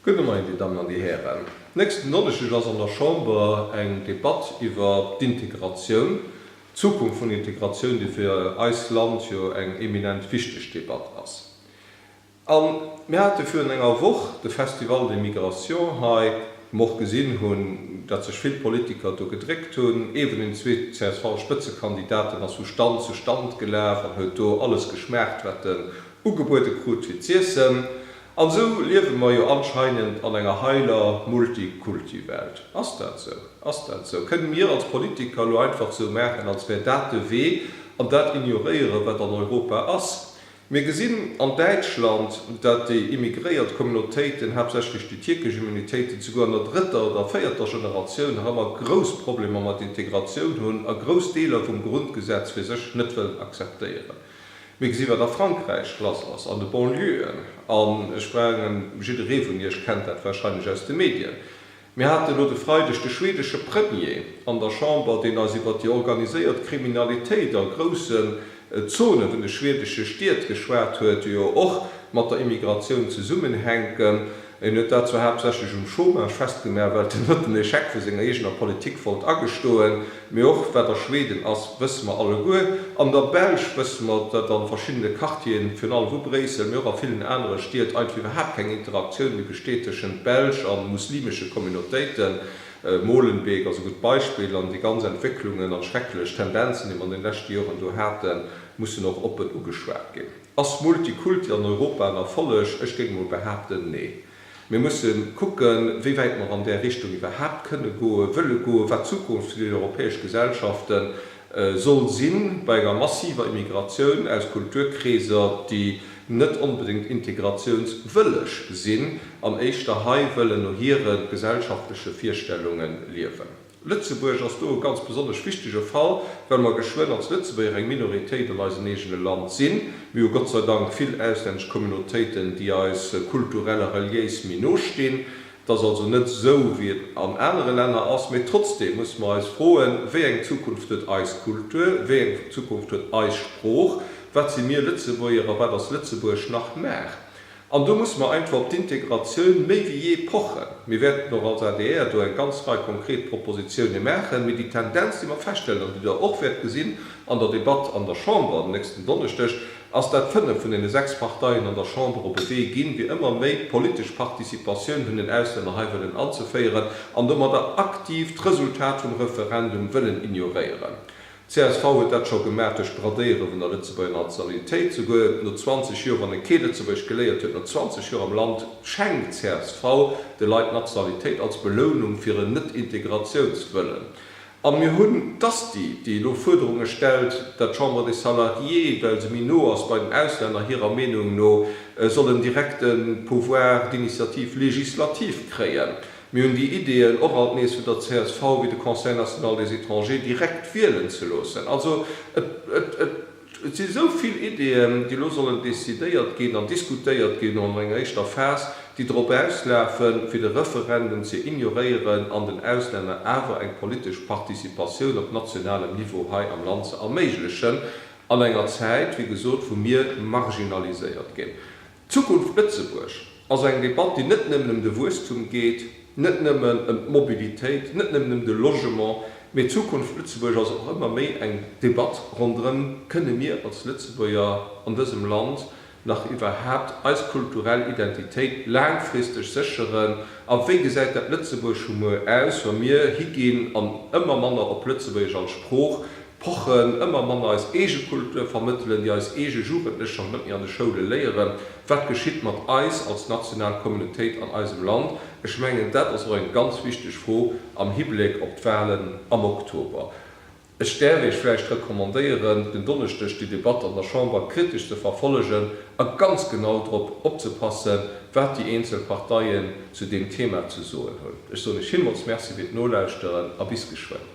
Gudde Moien, Dir Dammen an Dir Hären. Nächsten Donneschdeg ass an der Chamber eng Debatt iwwer d'Integratioun, d'Zukunft vun Integratioun, déi fir eist Land jo eng eminent wichteg Debatt ass. A mir hate virun enger Woch de Festival des migrations hei, wou mer och gesinn hunn, datt sech vill Politiker do gedréckt hunn. Ewen hunn zwee CSV-Spëtzekandidaten ass vu Stand zu Stand gelaf an huet do alles geschmaacht, wat en ugebuede krut fir z'iessen. An esou liewe mer jo anscheinend an enger heiler Multikulti-Welt. Ass dat esou? Ass dat esou? Kënne mir als Politiker elo einfach esou maachen, als wär dat de Wee, an dat ignoréieren, wat an Europa ass? Mir gesinn an Däitschland, dat déi immigréiert Communautéiten, haaptsächlech déi tierkesch Immunitéiten, souguer an der drëtter oder véierter Generatioun nach ëmmer grouss Problemer mat Integratioun hunn a grouss Deeler vum Grundgesetz fir sech net wëllen akzeptéieren. Mir gesi wat a Frankräich lass ass an de Banlieu'en, an ech mengen jidderee vun iech kennt dat wahrscheinlech aus de Medien. Mir haten elo de Freideg de schwedesche Premier an der Chamber, deen eis iwwert déi organiséiert Kriminalitéit a groussen Zonen vun de schwedesche Stied geschwat huet, déi jo och mat der Immigratioun zesummenhänken. Hien huet dat zwar haaptsächlech um Chômage festgemaach, well den huet den Echec vu senger eegener Politik wollt agestoen, mee och wat a Schweden ass, wësse mer alleguer. An der Belsch wësse mer, datt a verschiddene Quartieren, virun allem vu Bréissel, mee och a villen anere Stied einfach iwwerhaapt keng Interaktioun méi besteet tëschent Belsch a muslimesche Communautéiten. Molenbeek ass e gutt Beispill. An déi ganz Entwécklungen an schrecklech Tendenzen, déi mer an den leschte Joren do haten, mussen och oppen ugeschwat ginn. Ass Multikulti an Europa en Erfolleg? Ech géing mol behaapten, nee. Mir musse kucken, wéi wäit mer an där Richtung iwwerhaapt kënne goen, wëlle goen, wat d'Zukunft vun den europäesche Gesellschafte soll sinn, bei enger massiver Immigratioun aus Kulturkreeser, déi net onbedéngt integratiounswëlleg sinn an éischter hei wëllen no hiren gesellschaftleche Virstellungen liewen. Lëtzebuerg ass do e ganz besonnesch wichtege Fall, well mer geschwënn als Lëtzebuerger eng Minoritéit an eisem eegene Land sinn. Mir hu Gott sei Dank vill auslännesch Communautéiten, déi eis kulturell a reliéis méi no stinn. Et ass also net esou, wéi et an anere Länner ass. Mee trotzdeem musse mer eis froen, Wéi eng Zukunft huet eis Kultur? Wéi eng Zukunft huet eis Sprooch? Wat si mir Lëtzebuerger a wat ass Lëtzebuerg nach? Nach? An do musse mer einfach op d'Integratioun méi wéi jee pochen. Mir wäerten och als adr do eng ganz Rei konkret Propositioune maachen. Mee déi Tendenz, déi mer feststellen an déi Der och wäert gesinn an der Debatt an der Chamber den nächsten Donneschdeg, ass, dat fënnef vun deene sechs Parteien an der Chamber op e Wee ginn, fir ëmmer méi politesch Participatioun vun den Auslänner hei wëllen anzeféieren an domadder aktiv d'Resultat vum Referendum wëllen ignoréieren. Csv huet dat scho gemaach duerch d'Bradéiere vun der Lëtzebuerger Nationalitéit. Souguer no 20 Joer, wann e kee Lëtzebuergesch geléiert huet, no 20 Joer am Land, schenkt d'csv de Leit d'Nationalitéit als Belounung fir en Net-Integratiounswëllen. A mir hunn d'Asti, déi elo Fuerderunge stellt, dat d'Chambre des Salariés, well se méi no ass bei den Auslänner, hirer Meenung no soll en direkte Pouvoir d'initiative législative kréien. Mir hunn déi Ideeën och alt nees vun der csv, wéi de Conseil national des étrangers direkt wielen ze loossen. Also et si sou vill Ideeën, déi elo sollen decidéiert ginn an diskutéiert ginn an enger éischter Phas, déi drop auslafen, fir de Referendum ze ignoréieren an den Auslänner awer eng politesch Participatioun op nationalem Niveau hei am Land ze erméiglechen an enger Zäit, wéi gesot, wou mir marginaliséiert ginn. Zukunft Lëtzebuerg ass eng Debatt, déi net nëmmen ëm de Wuesstum geet, net nëmmen ëm d'Mobilitéit, net nëmmen ëm de Logement, mee Zukunft Lëtzebuerg ass och ëmmer méi eng Debatt ronderëm, Kënne mir als Lëtzebuerger an dësem Land nach iwwerhaapt eis kulturell Identitéit laangfristeg sécheren? A wéi gesäit dat Lëtzebuerg vu muer aus, wa mir higinn an ëmmer manner op Lëtzebuergesch als Sprooch Pochen ëmmer manner eis eege Kultur vermëttelen, déi eis eege Jugendlech schonn net méi an de Schoule léieren. Wat geschitt mat eis als national Communautéit an eisem Land? Ech mengen, dat ass och eng ganz wichteg Fro am Hibléck op d'Wahlen am Oktober. Ech däerf Iech vläicht recommandéieren, den Donneschdeg déi Debatt an der Chamber kritesch ze verfollegen a ganz genau drop opzepassen, wat déi eenzel Parteien zu deem Thema ze soen hunn. Ech soen Iech villmools Merci fir d'Nolauschteren a bis geschwënn.